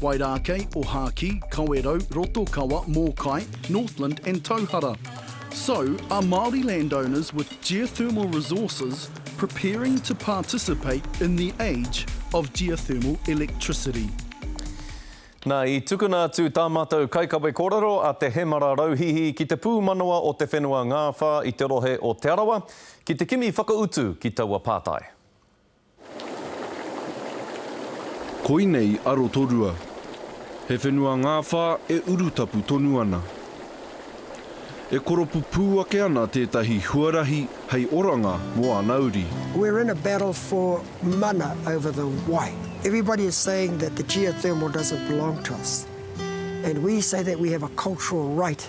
Wairākei, Ohākī, Kawerau, Rotokawa, Mōkai, Northland and Tauhara. So, are Māori landowners with geothermal resources preparing to participate in the age of geothermal electricity? Na, i tukuna atu tā mātou kaikawe kōrero a Te Hemara Rauhihi ki te pūmanawa o te whenua Ngāwhā i te rohe o Te Arawa ki te kimi whakautu ki taua pātai. Koinei a Rotorua. He whenua ngāwhā e urutapu tonu ana. E koropu pū ake ana tētahi huarahi hei oranga mō ana uri. We're in a battle for mana over the wai. Everybody is saying that the geothermal doesn't belong to us and we say that we have a cultural right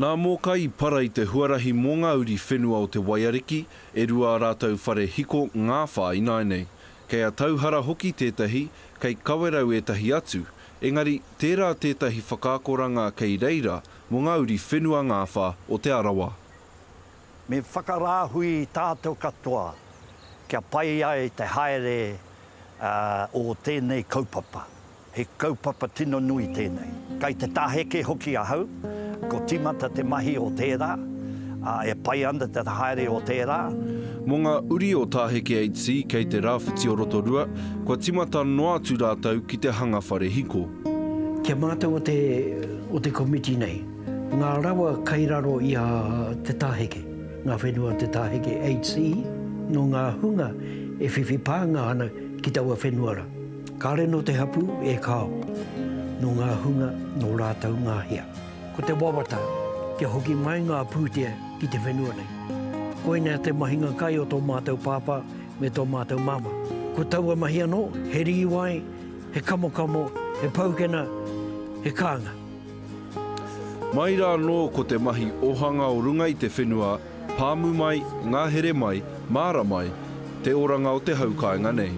Nā Mōkai i para i te huarahi mō ngā uri whenua o te Waiariki, e rua ā rātou whare hiko ngā whā ināianei. Kei a Tauhara hoki tētahi, kei Kawerau ētahi atu, engari tērā tētahi whakaakoranga kei reira mō ngā uri whenua ngāwhā o Te Arawa. Me whakarāhui tātou katoa kia pai ai te haere o tēnei kaupapa. He kaupapa tino nui tēnei. Kei te tāheke hoki ahau, ko tīmata te mahi o tērā, ā, e pai ana te haere o tērā. Mō ngā uri o Tāheke HC kei te Rāwhiti o Rotorua, kua tīmata noa atu rātou ki te hanga whare hiko. Ki a mātou o te o te komiti nei, ngā rawa kei raro i a te tāheke, ngā whenua o te Tāheke HC, nō ngā hunga e whiwhi pānga ana ki taua whenua rā. Kāre nō te hapū e kāo, nō ngā hunga, nō rātou ngā hea. Ko te wawata, kia hoki mai ngā pūtea ki te whenua nei. Koinea te mahinga kai o tō mātou pāpā me tō mātou māmā. Ko taua mahi anō, he rīwai, he kamokamo, he paukena, he kānga. Mai rā anō ko te mahi ohanga o runga i te whenua Pāmu mai, ngahere mai, māra mai, te oranga o te hau kāinga nei.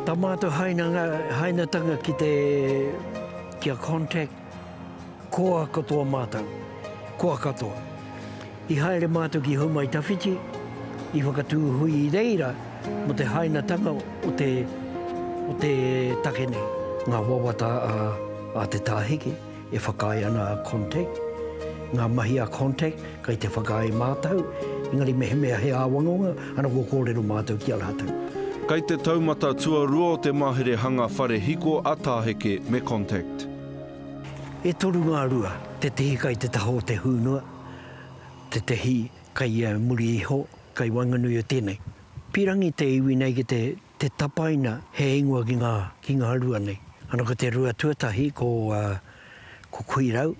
Tama atu hainatanga ki te, ki a Contact, koa katoa mātou, koa katoa. I haere mātou ki Houmaitawhiti, i whakatū hui i reira mō te hainatanga o te, o te take nei. Ngā wawata a, a Te Tāhiki. E whakaae ana a Contact, ngā mahi a Contact, kei te whakaae mātou, engari mehemea he āwangawanga, ana kua kōrero mātou ki a rātou. Kei te taumata tuarua o te mahere hanga whare hiko a Tāheke me Contact. E toru ngā rua, tētehi kei te taha o te hūnua, tētehi kei ia muri iho, kei waenganui o tēnei. Pīrangi te iwi nei ki te Te tapaina he ingoa ki ngā, ki ngā rua nei. Ana ko te rua tuatahi ko, ko Kuirau,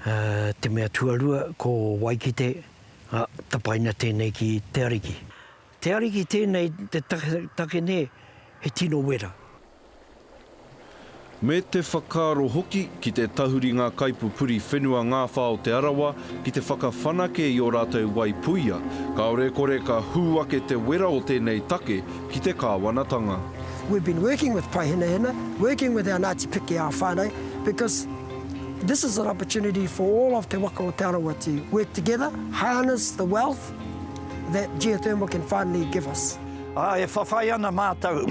te mea tuarua ko Waikite, a, tapaina tēnei ki te Ariki. Te Ariki tēnei te take nei he tino wera. Me te whakaaro hoki ki te tahuri ngā kaipupuri whenua ngāwhā o Te Arawa ki te whakawhanake i ō rātou wai puia, kāore e kore ka hū ake te wera o tēnei take ki te kāwanatanga. We've been working with Paihenahena, working with our Ngāti Pikiao whānau because this is an opportunity for all of te waka o Te Arawa to work together, harness the wealth that geothermal can finally give us. Ā, e whawhai ana mātou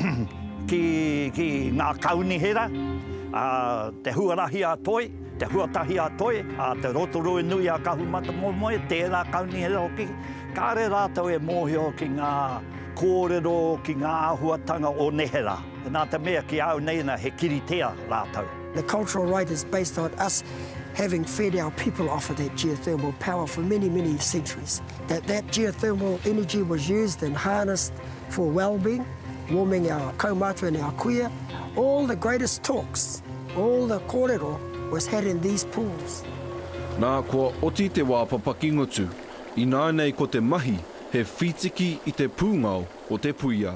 ki, ki ngā kaunihera, ā, te huarahi a Toi, te huatahi a Toi, ā, te Rotorua Nui a Kahumatamoemoe, tērā kaunihera hoki, kāre rātou e mōhio ki ngā kōrero, ki ngā āhuatanga o neherā. Nā te mea ki a au nei nā, he kiritea rātou. The cultural right is based on us having fed our people off of that geothermal power for many, many centuries. That that geothermal energy was used and harnessed for wellbeing, warming our kaumātua and our kuia, all the greatest talks, all the kōrero was had in these pools. Nā, kua oti te wā papaki ngutu, ināinei ko te mahi he whītiki i te pūngao o te puia.